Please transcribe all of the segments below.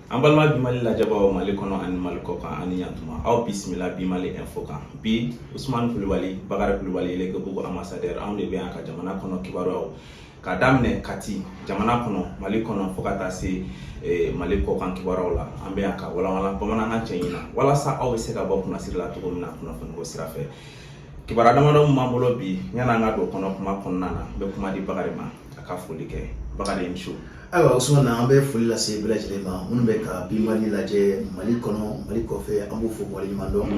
an balima bi mali lajɛbaaw mali kɔnɔ ani mali kɔkan ani yantuma aw bisimila bi mali info kan bi usumani kulubali bakari kulubali lekebugu ambassadeur anw de bɛ yan ka jamana kɔnɔ kibaruyaw ka daminɛ kati jamana kɔnɔ mali kɔnɔ fo ka taa se eh, mali kɔkan kibaruyaw la an bɛ yan ka walawala bamanankan cɛɲi na walasa aw bɛ se ka bɔ kunnasiri la cogo min na kunnafoniko sira fɛ kibaruya damadɔ min b'an bolo bi yann'an ka don kɔnɔ kuma kɔnɔna na n bɛ kuma di bakari ma a ka foli kɛ bakari muso ayiwa usumana an bɛ foli lase bɛɛ lajɛlen ma minnu bɛ ka bi mali lajɛ mali kɔnɔ mali kɔfɛ an b'u fo waleɲuman dɔn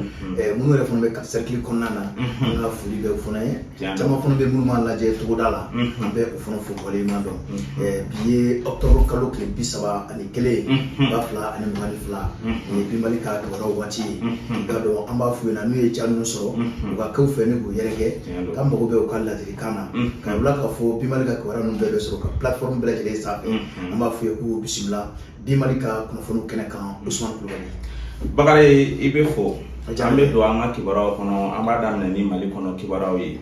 minnu yɛrɛ fana bɛ kati sɛrikili kɔnɔna na an ka foli b'u fana ye caman fana bɛ minnu b'a lajɛ togoda la an bɛ o fana fo waleɲuman dɔn bi ye ɔkutɔburu kalo tile bi saba ani kelen ba fila ani mugan ni fila o ye bi mali ka dɔgɔtɔrɔ waati ye i k'a dɔn an b'a f'u ɲɛna n'u ye ja ninnu sɔrɔ u ka kɛ u fɛ ani k'u yɛrɛkɛ an mago bɛ u ka ladili kan na ka bila k'a fɔ bi mali ka kibaruya ninnu bɛɛ bɛ sɔrɔ ka platform bɛɛ lajɛlen sanfɛ an b'a f'u ye k'u bisimila bi mali ka kunnafoniw kɛnɛ kan usumani kulubali bakari i b'a fɔ an bɛ don an ka kibaruyaw kɔnɔ an b'a daminɛ ni mali kɔnɔ kibaruyaw ye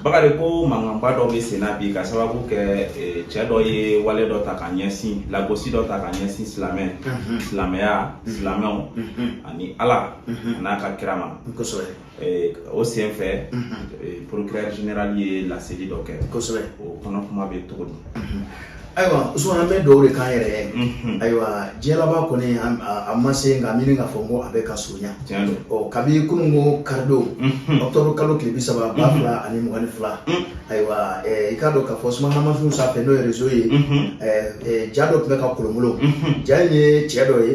bakari ko mankanba dɔ bɛ senna bi k'a sababu kɛ cɛ dɔ ye wale dɔ ta ka ɲɛsin lagosi dɔ ta ka ɲɛsin silamɛ silamɛya silamɛw ani ala an'a ka kira ma Eh, o sen fɛ mhm. eh, procureur général ye laseli dɔ kɛ kosɛbɛ o kɔnɔ kuma bɛ cogo di mhm. ayiwa usumana an bɛ donw de kan yɛrɛ ye mhm. ayiwa diɲɛ laban kɔni a ma se nka n miiri k'a fɔ ko a bɛ ka surunya ɔ kabi kunun ko karidon ɔktɔburu kalo tile bi saba ba fila ani mugan ni fila ayiwa i k'a dɔn k'a fɔ sumanamafinw sanfɛ n'o ye rezo ye ja dɔ tun bɛ ka kolonkolon ja in ye cɛ dɔ ye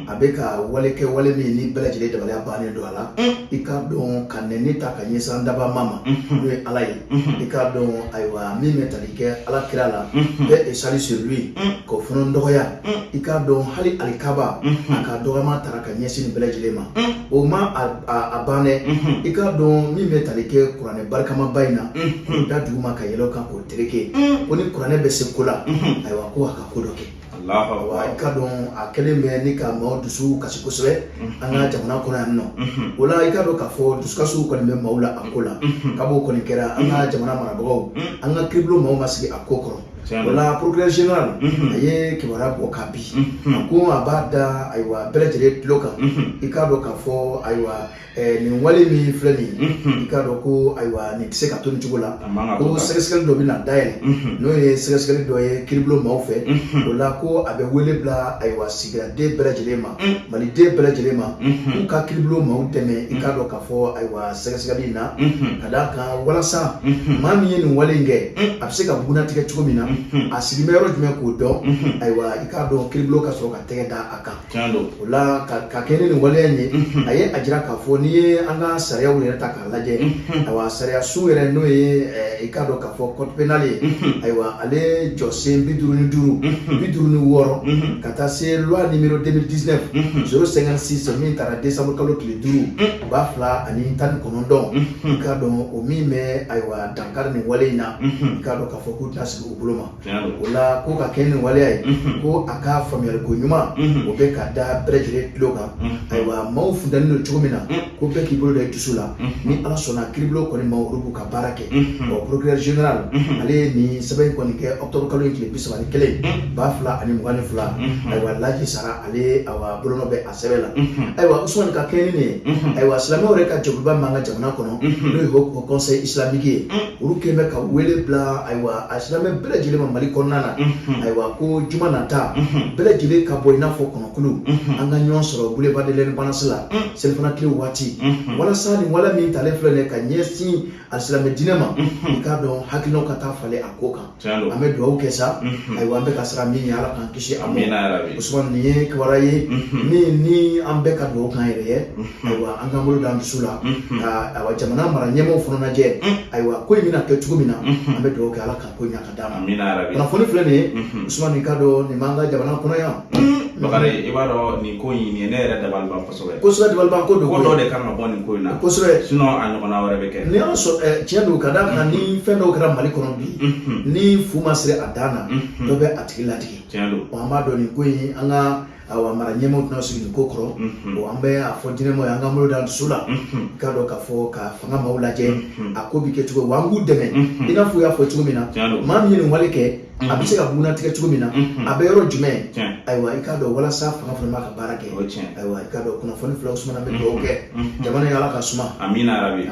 a bɛ ka wale kɛ wale min ni bɛɛ lajɛlen dabaliya bannen don a la i k'a dɔn ka nɛni ta ka ɲɛsin an dabaa ma n'o ye ala ye i k'a dɔn ayiwa min bɛ tali kɛ ala kira la paix et salut sur lui k'o fana dɔgɔya i k'a dɔn hali alikaba a ka dɔgɔma taara ka ɲɛsin nin bɛɛ lajɛlen ma o ma a ban dɛ i k'a dɔn min bɛ tali kɛ kuranɛ barikamaba in na k'o da duguma ka yɛlɛ o kan k'o tereke ko ni kuranɛ bɛ se ko la ayiwa ko a ka ko dɔ kɛ wa i k'a dɔn a kɛlen bɛ ni ka maaw dusu kasi kosɛbɛ an ka jamana kɔnɔ yan nɔ o la i k'a dɔn k'a fɔ dusukasiw kɔni bɛ maaw la a ko la kab'o kɔni kɛra an ka jamana marabagaw an ka kiribulon maaw ma sigi a ko kɔrɔ o la procureur général a ye kibaruya bɔ ka bi a ko a b'a da ayiwa bɛɛ lajɛlen tulo kan i k'a dɔn k'a fɔ ayiwa Eh, nin wale min filɛ nin ye mhm. i k'a dɔn ko ayiwa nin tɛ se ka to nin cogo la ko sɛgɛsɛgɛli dɔ bɛ na dayɛlɛ mhm. n'o ye sɛgɛsɛgɛli dɔ ye kiribulon maaw fɛ mhm. o la ko a bɛ wele bila ayiwa sigidaden bɛɛ lajɛlen ma maliden bɛɛ lajɛlen ma k'u ka kiribulon maaw dɛmɛ i k'a dɔn k'a fɔ ayiwa sɛgɛsɛgɛli in na ka d'a kan walasa maa min ye nin wale in kɛ a bɛ se ka bugunnatigɛ cogo min na a sigi bɛ yɔrɔ jumɛn k'o dɔn ayiwa i k'a dɔn kiribulon ka sɔrɔ ka tɛgɛ da a kan Tiɲɛ don. O la ka ka kɛɲɛ ni nin waleya in ye. Unhun. A ye a jira k'a fɔ n'i ye an ka sariyaw yɛrɛ ta k'a lajɛ. Unhun. Ayiwa sariyasun yɛrɛ n'o ye ɛɛ i k'a dɔn k'a fɔ code pénal ye. Unhun. Ayiwa ale jɔsen 55. Unhun. 56. Unhun. Ka taa se loi numéro 2019. Unhun. 056 min tara décembre kalo tile 5. Un. Ba fila ani tan ni kɔnɔntɔn. Unhun. I k'a dɔn o min bɛ ayiwa dankari nin wale in na. Unhun. I k'a dɔn k'a fɔ k'u tɛna sigi u bolo ma. o la ko ka kɛɲɛ ni waleya ye mhm. ko a ka faamuyali ko ɲuman mhm. o bɛ ka da bɛɛ lajɛlen tulo kan mhm. ayiwa maaw funteni don cogo min na ko bɛɛ k'i bolo da i dusu la ni ala sɔnna kiribulon kɔni maa olu b'u ka baara kɛ ɔ procureur général ale ye nin sɛbɛn in kɔni kɛ octobre kalo in tile bi saba ni kelen ba fila ani mugan ni fila ayiwa laji sara ale awa bolonɔ bɛ sɛbɛn la ayiwa usumani ka kɛɲɛ ni ye ayiwa silamɛw yɛrɛ ka jɛkuluba min b'an ka jamana kɔnɔ n'o ye haut conseil islamique ye olu kɛlen bɛ ka wele bila ayiwa alisilamɛ bɛɛ lajɛlen ma mali kɔnɔna na ayiwa ko juma nata bɛɛ lajɛlen ka bɔ i n'a fɔ kɔnɔkulu an ka ɲɔgɔn sɔrɔ boulevard de l'indépendance la selifana tile waati walasa nin wale min talen filɛ nin ye ka ɲɛsin alisilamɛ diinɛ ma i k'a dɔn hakilinaw ka taa falen a ko kan an bɛ dugawu kɛ sa ayiwa an bɛ ka siran min ɲɛ ala k'an kisi a usumani nin ye kibaruya ye min ni an bɛ ka dugawu k'an yɛrɛ ye ayiwa an k'an bolo d'an dusu la ka ayiwa jamana mara ɲɛmaaw fana lajɛ ayiwa ko in bɛna kɛ cogo min na an bɛ dugawu kɛ ala ka ko ɲa ka d'a ma kunnafoni filɛ nin ye usumani i k'a dɔn nin b'an ka jamana kɔnɔ yan bakari i b'a dɔn nin ko in nin ye ne yɛrɛ dabali ban kosɛbɛ kosɛbɛ dabaliban ko don ko dɔ de ka kan ka bɔ nin ko in na kosɛbɛ sinon a ɲɔgɔnna wɛrɛ bɛ kɛ n'i y'a sɔrɔ eh, tiɲɛ don ka d'a kan ni fɛn dɔw kɛra mali kɔnɔ bi ni fu ma siri a dan na dɔ bɛ a tigi ladegi tiɲɛ don an b'a dɔn nin ko in an ka awa mara ɲɛmaaw tɛna sigi nin ko kɔrɔ bon an bɛ a fɔ diinɛmaaw ye an k'an bolo d'an dusu la i k'a dɔn k'a fɔ ka fanga maaw lajɛ a ko bɛ kɛ cogo wa an k'u dɛmɛ i n'a fɔ u y'a fɔ cogo min na maa min ye nin wale kɛ a bɛ se ka bugunnatigɛ cogo min na a bɛ yɔrɔ jumɛn ayiwa i k'a dɔn walasa fanga fana b'a ka baara kɛ ayiwa i k'a dɔn kunnafoni filɛ usumani an bɛ dugawu kɛ jamana ye ala k'a suma amina yarabi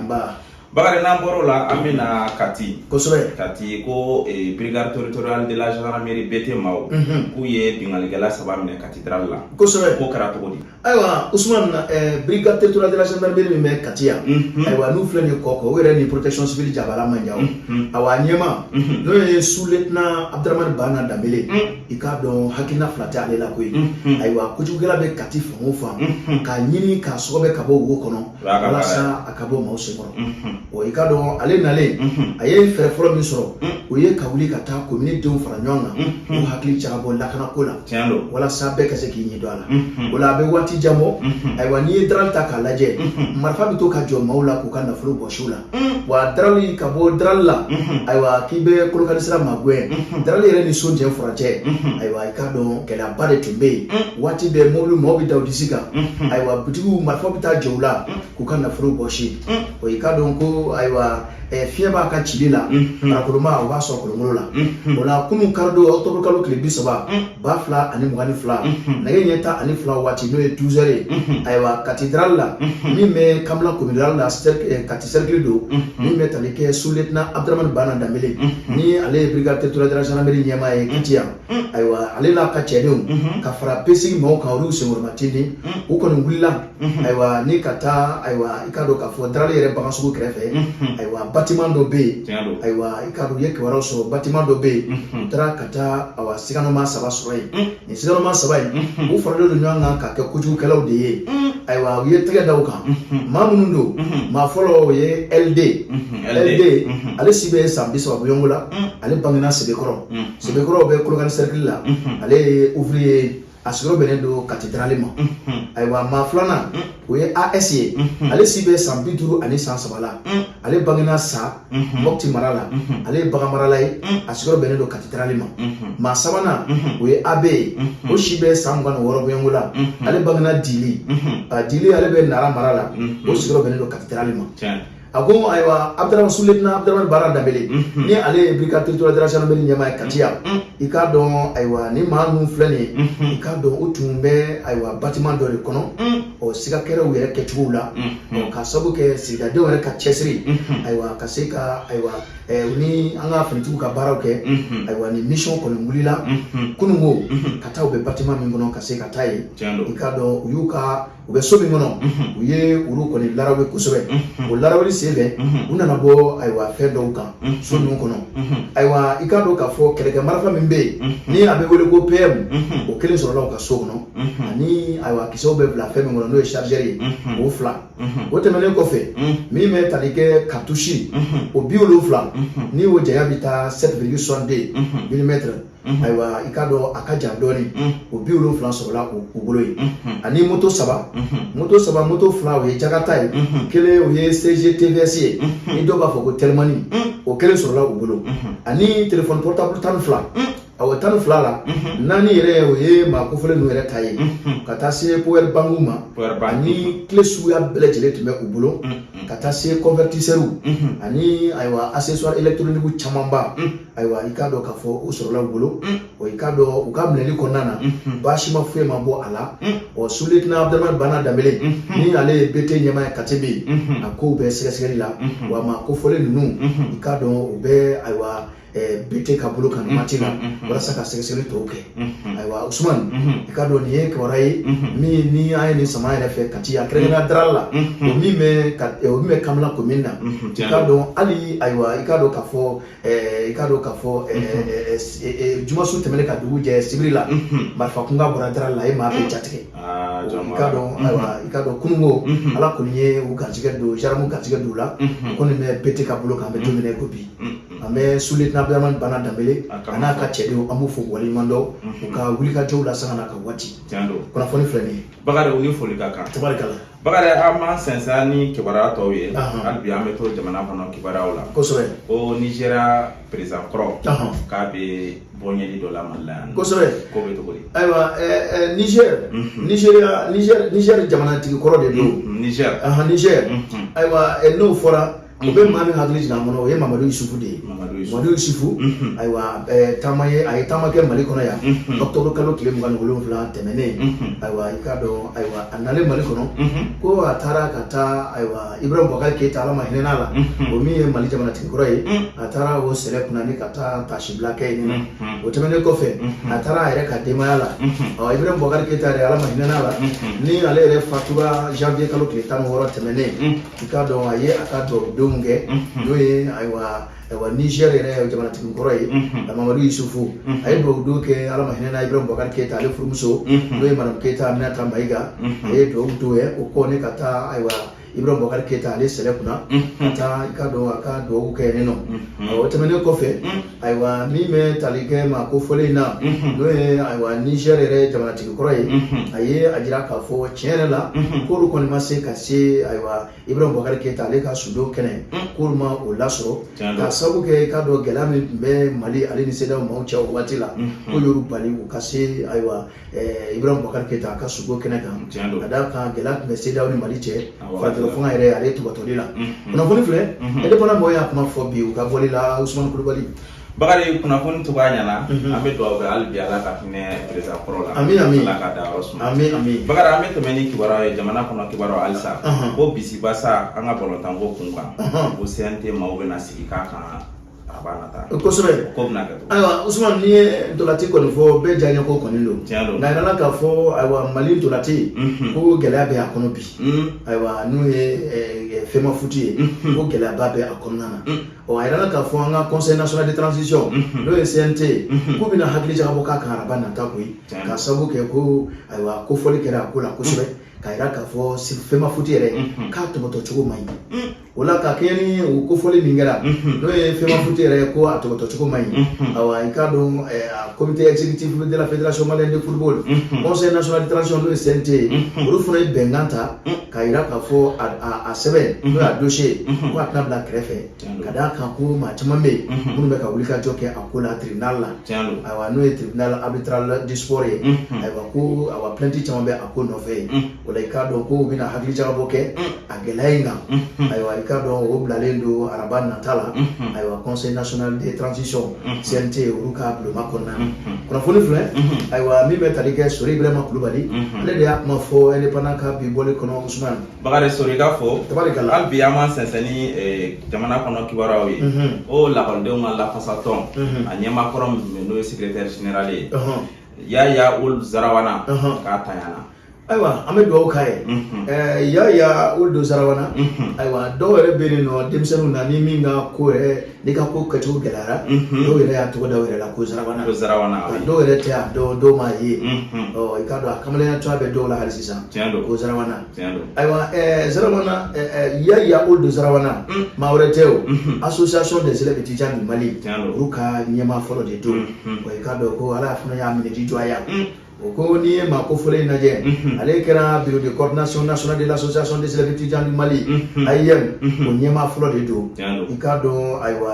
bakari n'an bɔr'o la an bɛ na kati kosɛbɛ kati ko brigade territoriale de la gendarmerie bt maaw k'u ye binkanikɛla saba minɛ kati la kosɛbɛ k'o kɛra cogo di ayiwa Usman eh, brigade territoriale de la gendarmerie min bɛ Kati yan mhm. ayiwa n'u filɛ nin ye Kɔkɔ o yɛrɛ ni protection civile jabala man jan mhm. awa a ɲɛmaa mhm. n'o ye sous lieutenant Abdramane Bana Dembélé i k'a dɔn hakilina fila tɛ ale la koyi ayiwa kojugukɛla bɛ Kati fan o fan k'a ɲini k'a sɔgɔbɛ ka bɔ wo kɔnɔ walasa a ka bɔ maaw senkɔrɔ o i k'a dɔn ale nalen a ye fɛɛrɛ fɔlɔ min sɔrɔ o ye ka wuli ka taa komini denw fara ɲɔgɔn kan k'u hakili jagabɔ lakanako la walasa bɛɛ ka se k'i ɲɛ don a la o la a bɛ waati jan bɔ ayiwa n'i ye darali ta k'a lajɛ marifa bɛ to ka jɔ maaw la k'u ka nafolo bɔsi u la Mm. wa darali ka bɔ darali la mm-hmm. ayiwa k'i bɛ kolokani sira magɛn mm-hmm. darali yɛrɛ ni so jɛ furancɛ mm-hmm. ayiwa i k'a dɔn gɛlɛyaba de tun bɛ yen mm. waati bɛɛ mobili mɔgɔw bɛ da u disi kan ayiwa butigiw marifaw bɛ taa jɔ u la mm. k'u ka nafolo bɔsi o i k'a dɔn ko ayiwa eh, fiɲɛ b'a ka cili la barakolon ma o b'a sɔrɔ kolonkolon la o la kunun kari don ɔkutɔburukalo tile bi saba ba fila ani mugan ni fila nɛgɛ ɲɛ tan ani fila waati n'o ye duzɛri ye ayiwa kati darali la min bɛ kanbila komini rurali la kati sɛrikili don min bɛ tali kɛ suletina abudramani bana danbele ni ale ye brigade territoriale de la gendarmerie ɲɛmaa ye kati yan ayiwa ale n'a ka cɛdenw ka fara pesigi maaw kan olu senkɔrɔma tindi u kɔni wulila Mhm. ayiwa ni ka taa ayiwa i k'a dɔn k'a fɔ darali yɛrɛ bagan sugu kɛrɛfɛ mhm. ayiwa batiman dɔ bɛ yen ayiwa i k'a dɔn u ye kibaruyaw sɔrɔ batiman dɔ bɛ yen mhm. u taara ka taa awa siganamaa saba sɔrɔ yen nin siganamaa saba in u faralen don ɲɔgɔn kan ka kɛ kojugukɛlaw de ye ayiwa u ye tɛgɛ da u kan maa minnu don maa fɔlɔ o ye ld ld ale si bɛ san bi saba bɔɲɔgɔnko la ale bangena sebekɔrɔ sebekɔrɔ bɛ kolokani sɛrikili la ale ye ouvrier ye a sigiyɔrɔ bɛnnen don kati darali ma ayiwa maa filanan o ye as ye ale si bɛ san bi duuru ani san saba la ale bangena sa mɔpti mara la ale ye bagan marala ye a sigiyɔrɔ bɛnnen don kati darali ma maa sabanan o ye ab ye o si bɛ san mugan ni wɔɔrɔ bɔɲɔgɔnko la ale bangena dili dili ale bɛ nara mara la o sigiyɔrɔ bɛnnen don kati darali ma a ko ayiwa abdurahman suletina abdurahman baara danbele ni ale ye brigade territoriale de la gendarmerie ɲɛmaa ye kati yan i k'a dɔn ayiwa ni maa ninnu filɛ nin ye i k'a dɔn u tun bɛ ayiwa batiman dɔ de kɔnɔ ɔ siga kɛra u yɛrɛ kɛcogow la ɔ ka sabu kɛ sigida denw yɛrɛ ka cɛsiri ayiwa ka se ka ayiwa u ni an ka finitigiw ka baaraw kɛ ayiwa ni misiyɔn kɔni wulila kunun ko ka taa u bɛ batiman min kɔnɔ ka se ka taa yen i k'a dɔn u y'u ka u bɛ so min kɔnɔ u ye olu kɔni larawe kosɛbɛ o laraweli sen fɛ u nana bɔ ayiwa fɛn dɔw kan so ninnu kɔnɔ ayiwa i k'a dɔn k'a fɔ kɛlɛkɛ marifa min bɛ yen ni a bɛ wele ko PM o kelen sɔrɔla u ka so kɔnɔ ani ayiwa kisɛw bɛ bila fɛn min kɔnɔ n'o ye chargeur ye o fila o tɛmɛnen kɔfɛ min bɛ tali kɛ cartouche o bi wolonwula ni o janya bɛ taa 7,62 milimɛtiri ayiwa i k'a dɔn a ka jan dɔɔnin o biwolonfila sɔrɔla u bolo yen ani moto saba moto saba moto fila o ye jakata ye kelen o ye tvs ye ni dɔw b'a fɔ ko tɛlimani o kelen sɔrɔla u bolo ani telefɔni portable tan ni fila awɔ tan ni fila la mhm. naani yɛrɛ o ye maa kofɔlen ninnu yɛrɛ ta ye mhm. ka taa se powɛri bankiw ma ani kile suguya bɛɛ lajɛlen tun bɛ u bolo mhm. ka taa se kɔnvɛtisɛriw ani ayiwa asesɔri elekitroniki camanba ayiwa i k'a dɔn k'a fɔ u sɔrɔla u bolo ɔ i k'a dɔn u ka minɛli kɔnɔna na baasi ma foyi ma bɔ a la ɔ suletina abudulayi bana danbele ni ale ye bete ɲɛmaa ye kati bɛ yen a kow bɛ sɛgɛsɛgɛli la wa maa kofɔlen ninnu i k'a dɔn u bɛ ayiwa bete ka bolo kan waati la walasa ka sɛgɛsɛgɛli tɔw kɛ ayiwa usumani i k'a dɔn nin ye kibaruya ye min ni an ye nin sama yɛrɛ fɛ kati a kɛrɛnkɛrɛnnenya darali la o min bɛ ka o min bɛ kanbila komini na i k'a dɔn hali ayiwa i k'a dɔn k'a fɔ i k'a dɔn k'a fɔ jumasu tɛmɛnen ka dugu jɛ sibiri la marifa kunkan bɔra darali la yen maa bɛɛ jatigɛ i k'a dɔn ayiwa i k'a dɔn kununko ala kɔni ye u garijɛgɛ don jaramu garijɛgɛ don u la u kɔni bɛ bete ka bolo kan bi don min ye ko bi an bɛ suletina abudramani bana danbele a n'a ka cɛdenw an b'u fo waleɲuman dɔn u ka wulikajɔw la sanga n'a ka waati kunnafoni filɛ nin ye bakari u ni foli ka kan tabarikala Bakari an b'an sɛnsɛn ni kibaruya tɔw ye hali bi an bɛ to jamana kɔnɔ kibaruyaw la ko nizeriya perezidan kɔrɔ k'a bɛ bɔyeli dɔ la mali yan kosɛbɛ ko bɛ cogo di ayiwa nizɛri nizeriya nizɛri jamanatigi kɔrɔ de don nizɛri nizɛri ayiwa n'o fɔra o bɛ maa min hakili jigin an kɔnɔ o ye mamadu yusufu de ye mamadu yusufu ayiwa taama ye a ye taama kɛ mali kɔnɔ yan ɔkutɔburu kalo tile mugan ni wolonwula tɛmɛnen ayiwa i k'a dɔn ayiwa a nalen mali kɔnɔ ko a taara ka taa ayiwa ibrahim bubakari keyita ala ma hinɛ la o min ye mali jamanatigi kɔrɔ ye a taara o sɛlɛ kunna ni ka taa taasibila kɛ yen o tɛmɛnen kɔfɛ a taara a yɛrɛ ka denbaya la ɔ ibrahim bubakari keyita yɛrɛ ala ma hinɛ la ni ale yɛrɛ fatura janvier kalo tile tan ni wɔɔrɔ tɛmɛnen i k'a dɔn a ye a ka dubabudonw kɛ mhm. n'o ye ayiwa ayiwa niger yɛrɛ jamanatigi kɔrɔ ye mhm. mamadu yusufu mhm. a ye dubabudon kɛ ala ma hinɛ na ibrahim bubakari keyita ale furumuso n'o ye madame keyita aminata mayiga a ye dubabu don a ye o kɔ ni ka taa ayiwa ibrahim bubakari keyita ale sɛlɛ kunna ka taa i k'a dɔn a ka dubabu kɛ yen ɔ o tɛmɛnen kɔfɛ ayiwa min bɛ tali kɛ maa kofɔlen in na mhm. n'o ye ayiwa nizɛri yɛrɛ jamanatigi kɔrɔ ye mhm. a ye a jira k'a fɔ tiɲɛ yɛrɛ la mhm. k'olu kɔni ma se ka se ayiwa ibrahim bubakari keyita ale ka sudon kɛnɛ k'olu ma o lasɔrɔ k'a sabu kɛ i k'a dɔn gɛlɛya min tun bɛ mali ale ni sedeyawo maaw cɛ o waati la k'o y'olu bali u ka se ayiwa Eh, ibrahima bubakari keyita a ka suko kɛnɛ kan ka d'a kan gɛlɛya tun bɛ sedeyawo ni mali cɛ furancɛla fanga yɛrɛ ale tɔbɔtɔli la mhm. kunnafoni filɛ mhm. indépendant mɔgɔw y'a kuma fɔ bi u ka bɔli la usumani kulubali bakari kunnafoni to b'a ɲɛna mhm. an bɛ dugawu kɛ hali bi ala ka hinɛ perezidan kɔrɔ la ami ami ala k'a dayɔrɔ suma ami ami bakari an bɛ tɛmɛ ni kibaruya ye jamana kɔnɔ kibaruya halisa ko bisimila sa an ka balontanko kun kan ko cnt maaw bɛna sigi k'a kan kosɛbɛ ayiwa usman n'i ye ntolati kɔni fɔ bɛɛ diyaɲɛ ko kɔni don nka a yirala k'a fɔ ayiwa mali ntolati ko gɛlɛya bɛ a kɔnɔ bi ayiwa n'o ye fɛmafuti ye ko gɛlɛyaba bɛ a kɔnɔna na ɔ a yirala k'a fɔ an ka conseil national de transition n'o ye cnt ko bɛna hakili jagabɔ k'a kan araba nata koyi k'a sabu kɛ ko ayiwa kofɔli kɛra a ko la kosɛbɛ k'a yira k'a fɔ fɛmafuti yɛrɛ k'a tɔbɔtɔ cogo man ɲi o la ka kɛɲɛ ni o kofɔli min kɛra n'o ye fɛmafuti yɛrɛ ye ko a tɔbɔtɔcogo man ɲi awa i k'a dɔn comité exécutif de la fédération malienne de football conseil national de transition n'o ye CNT ye olu fana ye bɛnkan ta k'a jira k'a fɔ a sɛbɛn n'o y'a dossier ye ko a tɛna bila kɛrɛfɛ ka d'a kan ko maa caman bɛ yen minnu bɛ ka wulikajɔ kɛ a ko la tribunal la ayiwa n'o ye tribunal arbitral du sport ye ayiwa ko awa plainte caman bɛ a ko nɔfɛ yen o la i k'a dɔn k'u bɛna hakili jagabɔ kɛ a gɛlɛya in kan ayiwa i k'a dɔn o bilalen don araba nata la ayiwa conseil national de transition cnt olu ka bulonba kɔnɔna na kunnafoni filɛ ayiwa min bɛ tali kɛ sori ibrahima kulubali ale de y'a kuma fɔ indépendant ka bi bɔli kɔnɔ usman bakari sori ka fɔ tabarikala hali bi an b'an sɛnsɛn ni eh, jamana kɔnɔ kibaruyaw ye ko lakɔlidenw ka lafasatɔn a ɲɛmaa kɔrɔ min n'o ye secrétaire général ye yaya uld zarawana k'a tanyana ayiwa an bɛ dugawu k'a ye ɛɛ yaya uld zarawana ayiwa dɔw yɛrɛ bɛ yen nɔ denmisɛnninw na ni min ka ko yɛrɛ ni ka ko kɛcogo gɛlɛyara dɔw yɛrɛ y'a tɔgɔ da u yɛrɛ la ko zarawana ko zarawana dɔw yɛrɛ tɛ a dɔn dɔw m'a ye ɔ i k'a dɔn a kamalenya cogoya bɛ dɔw la hali sisan tiɲɛ don ko zarawana tiɲɛ don ayiwa ɛɛ zarawana ɛɛ yaya uld zarawana maa wɛrɛ tɛ o association des élèves étudiants du Mali Tiɲɛ don. olu ka ɲɛmaa fɔlɔ de don wa i k'a dɔn ko ala fana y'a minɛ di jɔ a ya o ko n'i ye maa kofɔlen in lajɛ ale kɛra bureau de coordination nationale de l'association des élèves étudiants du mali AEEM o ɲɛmaa fɔlɔ de don i k'a dɔn ayiwa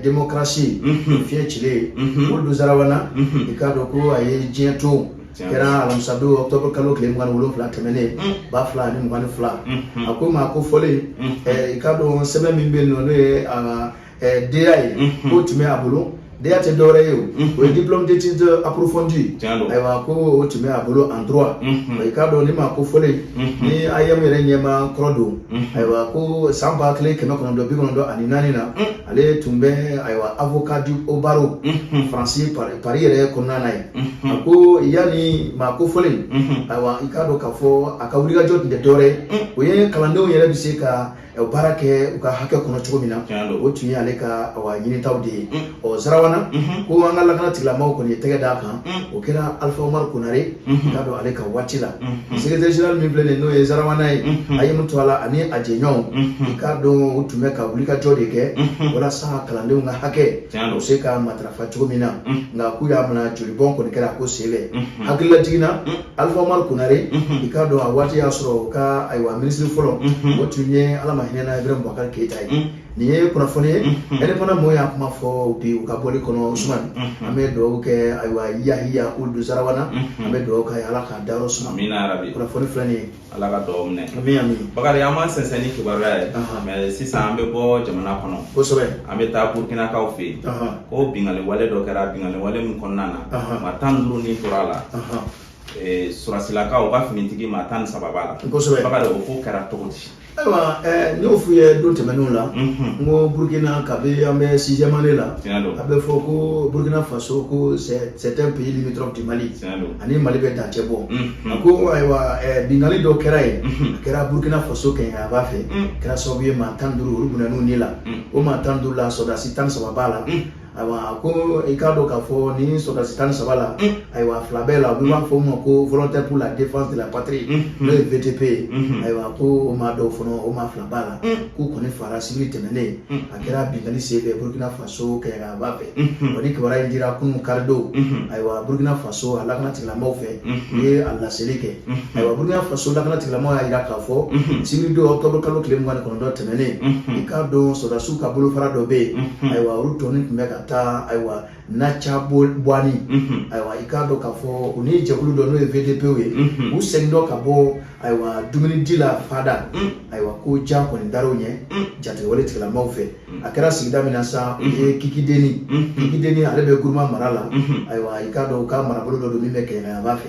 démocratie fiɲɛ cilen uld zarawana i k'a dɔn ko a ye diɲɛ to kɛra alamisadon octobre kalo tile mugan ni wolonwula tɛmɛnen ba fila ani mugan ni fila a ko maa kofɔlen i k'a dɔn sɛbɛn min bɛ yen nɔ n'o ye a DEA ye mhm. k'o tun bɛ a bolo DEA tɛ dɔwɛrɛ ye o mhm. o ye diplôme d'étude approfondie ayiwa ko o tun bɛ a bolo en droit mhm. i k'a dɔn nin maa kofɔlen nin AEEM yɛrɛ ɲɛmaa kɔrɔ don ayiwa ko san ba kelen kɛmɛ kɔnɔntɔn bi kɔnɔntɔn ani naani na ale tun bɛ ayiwa avocat au barreau faransi Paris yɛrɛ kɔnɔna na yen a ko yan nin maa kofɔlen ayiwa i k'a dɔn k'a fɔ a ka wulikajɔ tun tɛ dɔwɛrɛ ye o ye kalandenw yɛrɛ bɛ se ka o baara kɛ u ka hakɛ kɔnɔ cogo min na o tun ye ale ka ɲinitaw de ye ɔ zarawana ko an ka lakana tigilamaw kɔni ye tɛgɛ d'a kan o kɛra alifa umaru konare i k'a dɔn ale ka waati la secrétaire général min filɛ nin n'o ye zarawana ye a ye mun to a la ani a jɛɲɔgɔnw i k'a dɔn u tun bɛ ka wulikajɔ de kɛ walasa kalandenw ka hakɛ u se ka matarafa cogo min na nka k'u y'a minɛ jolibɔn kɔni kɛra ko senfɛ hakililajigin na Alifa Umaru Konare i k'a dɔn a waati y'a sɔrɔ u ka ayiwa minisiri fɔlɔ o tun ye Ala ma hinɛna Ibirahim Bubakari Keyita ye nin ye kunnafoni ye indépendant mɔɔw y'a kuma fɔ bi u ka bɔli kɔnɔ Usumani an bɛ dugawu kɛ ayiwa Yahiya Uld Zarawana an bɛ dugawu k'a ye Ala k'a dayɔrɔ suma amina yarabi kunnafoni filɛ nin ye ala ka dugawu minɛ bakari an bɛ sɛnsɛn ni kibaruya ye mais sisan an bɛ bɔ jamana kɔnɔ kosɛbɛ an bɛ taa burkinakaw fɛ yen ko binkanni wale dɔ kɛra binkanni wale min kɔnɔna na maa tan duuru ni tora a la sɔrɔdasilakaw ka finitigi maa tan ni saba b'a la kosɛbɛ bakari o ko kɛra cogo di ayiwa eh, n y'o f'u ye don tɛmɛnenw la mhm. n ko burukina kabi an bɛ sixième année la a bɛ fɔ ko burukina faso ko c'est un pays limitrophe du mali a ni mali bɛ dancɛ bɔ a ko binkanli dɔ kɛra yen a kɛra burukina faso kɛɲɛkayanfan fɛ kɛra sababu ye maa tan duuru olu bɔnɛna u ni la o maa tan duuru la sɔdasi tan saba b'a la ayiwa ko i k'a dɔn k'a fɔ nin sɔdasi tan saba la ayiwa fila b'a la u b'a fɔ o ma ko volontaire pour la défense de la patrie n'o ye VDP ye ayiwa ko o maa dɔw fana o maa fila b'a la k'u kɔni fara sibiri tɛmɛnen a kɛra binkanni senfɛ burukina faso so kɛɲɛkayanfan fɛ o nin kibaruya in dira kunun karidon ayiwa burukina faso a lakana tigilamɔgɔw fɛ u ye a laseli kɛ ayiwa burukina faso lakana tigilamɔgɔw y'a jira k'a fɔ sibiridon ɔktɔburu kalo tile mugan ni kɔnɔntɔn tɛmɛnen i k'a dɔn sɔrɔdasiw ka bolofara dɔ bɛ yen ayiwa olu kɔni tun bɛ ka taa ayiwa Natiaboani ayiwa i k'a dɔn k'a fɔ u ni jɛkulu dɔ n'o ye vdp ye u segintɔ ka bɔ ayiwa dumuni di la fada mm. ayiwa ko jan kɔni dara u ɲɛ mm. jatigɛwale tigilamaaw fɛ mm. a kɛra sigida min na sa o ye kikideni kikideni ale bɛ guruma mara la mm-hmm. ayiwa i k'a dɔn u ka marabolo dɔ don min bɛ kɛɲɛkayanfan fɛ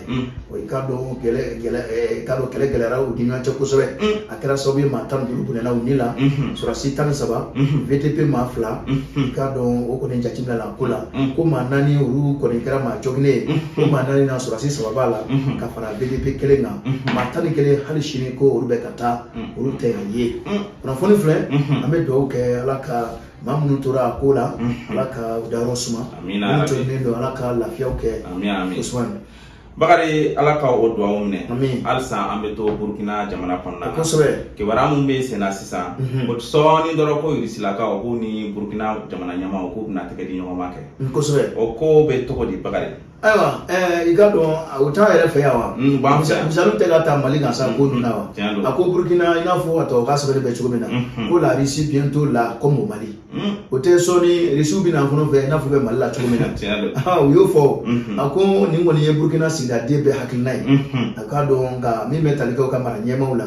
wa i k'a dɔn gɛlɛ gɛlɛ eh, i k'a dɔn kɛlɛ gɛlɛyara u ni ɲɔgɔn cɛ kosɛbɛ a kɛra sababu ye maa tan ni duuru bɔnɛna u ni la mm-hmm. sɔrɔdasi tan ni saba mm-hmm. vdp maa fila i k'a dɔn o kɔni jateminɛ la ko la ko maa naani olu kɔni kɛra maa jɔginnen ye ko maa naani na sɔrɔdasi saba b'a la ka fara VDP kelen kan maa tan ni kelen hali sini ko olu bɛ ka taa olu tɛ ka ye kunnafoni filɛ an bɛ dugawu kɛ ala ka maa minnu tora a ko la ala ka u dayɔrɔ suma minnu jogilen don ala ka lafiyaw kɛ kosuma bakari ala ka o dugawu minɛ halisa an bɛ to burukina jamana kɔnɔna na kosɛbɛ kibaruya minnu bɛ senna sisan o sɔɔni dɔrɔn ko irisilakaw k'u ni burukina jamana ɲɛmaaw k'u bɛna tɛgɛ di ɲɔgɔn ma kɛ kosɛbɛ o ko bɛ cogo di bakari ayiwa ɛɛ i k'a dɔn o t'an yɛrɛ fɛ yan wa Mm, b'an fɛ yan. misali tɛ ka ta mali kan sa ko ninnu na wa Tiɲɛ don. a ko burukina i n'a fɔ a tɔgɔ ka sɛbɛnni bɛ cogo min na Mhm. ko la russie bientôt là comme au mali Mm, o tɛ sɔɔni irisiw bɛ na an fana fɛ i n'a fɔ u bɛ mali la cogo min na tiɲɛ don. Ah, u y'o fɔ Mhm. a ko nin kɔni ye burukina sigida den bɛɛ hakilina ye Mhm. u k'a dɔn nka min bɛ tali kɛ u ka mara ɲɛmaw la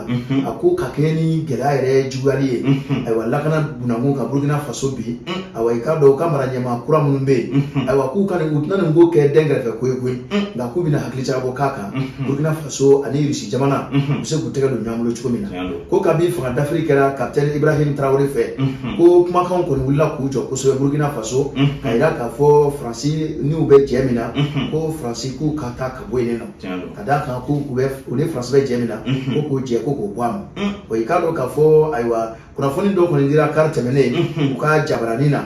a ko ka kɛɲɛ ni gɛlɛya yɛrɛ juguyali ye ayiwa lakana bunda kunkan burukina faso bi ayiwa i k'a dɔn u ka mara ɲɛmaa kura minnu bɛ yen ayiwa k'u ka nin u tɛna nin ko kɛ dɛnkɛrɛfɛ ko ye koyi nka k'u bɛna hakili jagabɔ k'a kan burukina faso ani irisi jamana u bɛ se k'u tɛgɛ don ɲɔgɔn bolo cogo min na ko kabi fanga dafiri kɛra kapitɛni ibrahim tarawele fɛ ko kumakanw kɔni wulila k'u jɔ kosɛbɛ burukina faso ka jira k'a fɔ faransi n'u bɛ jɛ min na ko faransi k'u ka taa ka bɔ yen nɔ ka d'a kan ko u bɛ u ni faransi bɛ jɛ min na ko k'o jɛ ko k'o bɔ a ma o i k'a dɔn k'a fɔ ayiwa kunnafoni dɔ kɔni dira kari tɛmɛnen u ka jabaranin na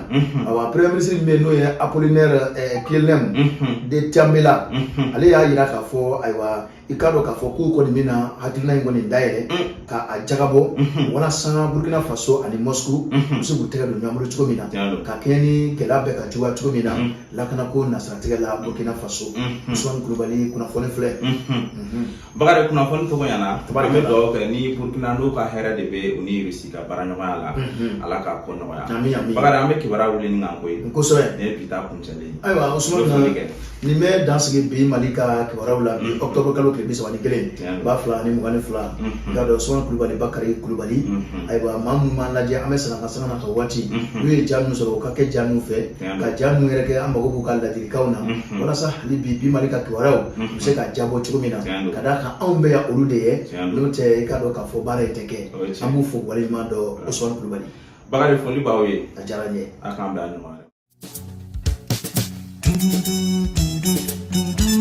ayiwa premier ministre min bɛ yen n'o ye apollinaire kyelem de tambela ale y'a jira k'a fɔ ayiwa i k'a dɔn k'a fɔ k'u kɔni bɛna hakilina in kɔni dayɛlɛ ka a jagabɔ walasa burkina faso ani moscou u bɛ se k'u tɛgɛ don ɲɔgɔn bolo cogo min na ka kɛɲɛ ni gɛlɛya bɛ ka juguya cogo min na lakana ko nasiratigɛ la burkina faso usman kulubali kunnafoni filɛ bakari kunnafoni tɔgɔ ɲɛna an bɛ dugawu kɛ ni burkina n'u ka hɛrɛ de bɛ u ni irisi ka baara ɲɔgɔnya la ala k'a ko nɔgɔya bakari an bɛ kibaruya wuli ni kan ko ye kosɛbɛ nin ye bi ta kuncɛlen ayiwa usman kɛ nin bɛ dan sigi bi mali ka kibaruyaw la bi octobre kalo tile bi saba ni kelen ba fila ni mugan ni fila i k'a dɔn usman kulubali bakari kulubali ayiwa maa minnu b'an lajɛ an bɛ sɛnɛ ka sanga na ka waati n'u ye ja minnu sɔrɔ u ka kɛ ja min fɛ ka ja minnu yɛrɛ kɛ an mago b'u ka ladilikanw na walasa hali bi bi mali ka kibaruyaw u bɛ se ka jabɔ cogo min na ka d'a kan anw bɛ yan olu de ye n'o tɛ i k'a dɔn k'a fɔ baara in tɛ kɛ an b'u fo waleɲumandɔn usman kulubali bakari foli b'aw ye a diyara n ye a k'an bɛn a ɲɔgɔn wɛrɛ